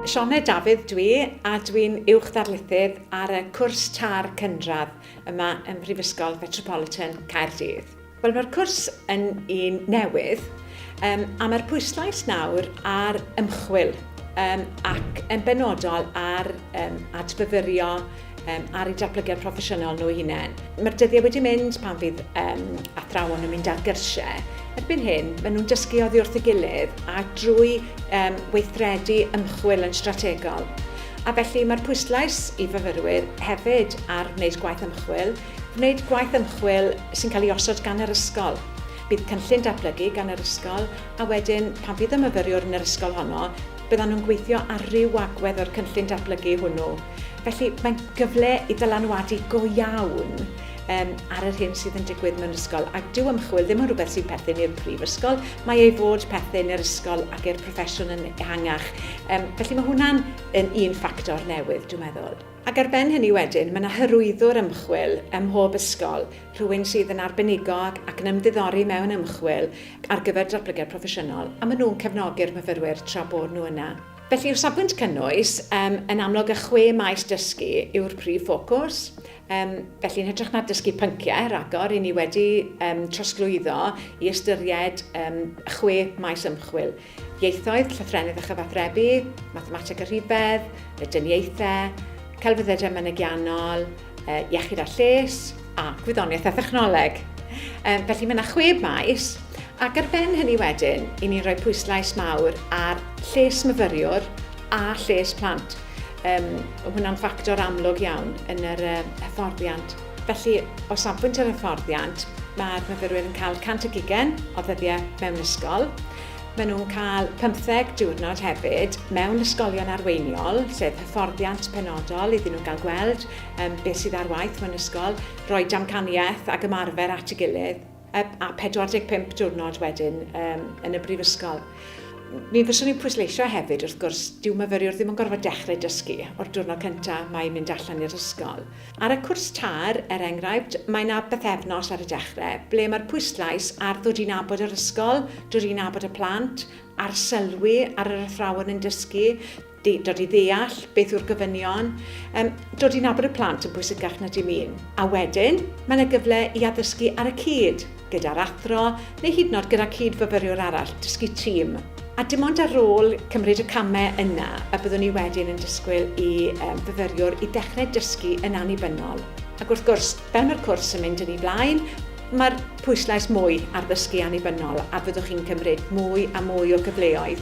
Sioned Dafydd dw i a dwi'n Uwch Ddarlithydd ar y cwrs TAR Cynradd yma ym Mhrifysgol Fetropolitan Caerdydd. Wel mae'r cwrs yn un newydd um, a mae'r pwyslais nawr ar ymchwil um, ac yn benodol ar um, adfyfyrio um, ar eu datblygiad proffesiynol nhw hunain. Mae'r dyddiau wedi mynd pan fydd um, athrawon yn mynd ar gyrsiau. Erbyn hyn, maen nhw'n dysgu oddi wrth y gilydd a drwy um, weithredu ymchwil yn strategol. A felly mae'r pwyslais i fyfyrwyr hefyd ar wneud gwaith ymchwil, wneud gwaith ymchwil sy'n cael ei osod gan yr ysgol. Bydd cynllun datblygu gan yr ysgol a wedyn pan fydd y myfyriwr yn yr ysgol honno, Byddan nhw'n gweithio ar ryw agwedd o'r cynllun datblygu hwnnw. Felly, mae'n gyfle i dylanwadu go iawn um, ar yr hyn sydd yn digwydd mewn ysgol. Ac dyw ymchwil ddim yn rhywbeth sy'n perthyn i'r prifysgol, mae ei fod perthyn i'r ysgol ac i'r proffesiwn yn ehangach. Um, felly mae hwnna'n un ffactor newydd, dwi'n meddwl. Ac ar ben hynny wedyn, mae 'na hyrwyddwr ymchwil ym mhob ysgol, rhywun sydd yn arbenigo ac ac yn ymddiddori mewn ymchwil ar gyfer datblygiad proffesiynol, a maen nhw'n cefnogi'r myfyrwyr tra bod nhw yna. Felly, o safbwynt cynnwys, yym, yn amlwg y chwe maes dysgu yw'r prif ffocws. Yym, felly, yn hytrach na dysgu pynciau ragor, ry'n ni wedi yym trosglwyddo i ystyried yym chwe maes ymchwil. Ieithoedd, Llythrennedd a Chyfathrebu, Mathemateg a Rhifedd, Medyniaethau, Celfyddydau Mynegiannol, Iechyd a Lles, a Gwyddoniaeth a Thechnoleg. Felly mae yna chwe maes, ac ar ben hynny wedyn, i ni'n rhoi pwyslais mawr ar lles myfyriwr a lles plant. Um, hwnna'n ffactor amlwg iawn yn yr um, hyfforddiant. Felly, o safbwynt yr hyfforddiant, mae'r myfyrwyr yn cael 100 o ddyddiau mewn ysgol, Maen nhw'n cael pymtheg diwrnod hefyd mewn ysgolion arweiniol, sef hyfforddiant penodol iddyn nhw gael gweld um, beth sydd ar waith mewn ysgol, rhoi damcaniaeth ac ymarfer at y gilydd, a 45 diwrnod wedyn um, yn y brifysgol. Mi fyswn i'n pwysleisio hefyd, wrth gwrs, dyw myfyriwr ddim yn gorfod dechrau dysgu o'r diwrnod cyntaf mae mynd allan i'r ysgol. Ar y cwrs TAR, er enghraifft, mae 'na bythefnos ar y dechre ble mae'r pwyslais ar ddod i nabod yr ysgol, dod i nabod y plant, arsylwi ar yr athrawon yn dysgu, dod i ddeall beth yw'r gofynion, um, dod i nabod y plant yn bwysicach na dim un. A wedyn, mae 'na gyfle i addysgu ar y cyd. gyda'r athro, neu hyd yn oed gyda cyd-fyfyriwr arall, dysgu tîm, a dim ond ar ôl cymryd y camau yna y byddwn ni wedyn yn disgwyl i fyfyriwr i ddechrau dysgu yn annibynnol. Ac wrth gwrs, fel mae'r cwrs yn mynd yn ei blaen, mae'r pwyslais mwy ar ddysgu annibynnol a byddwch chi'n cymryd mwy a mwy o gyfleoedd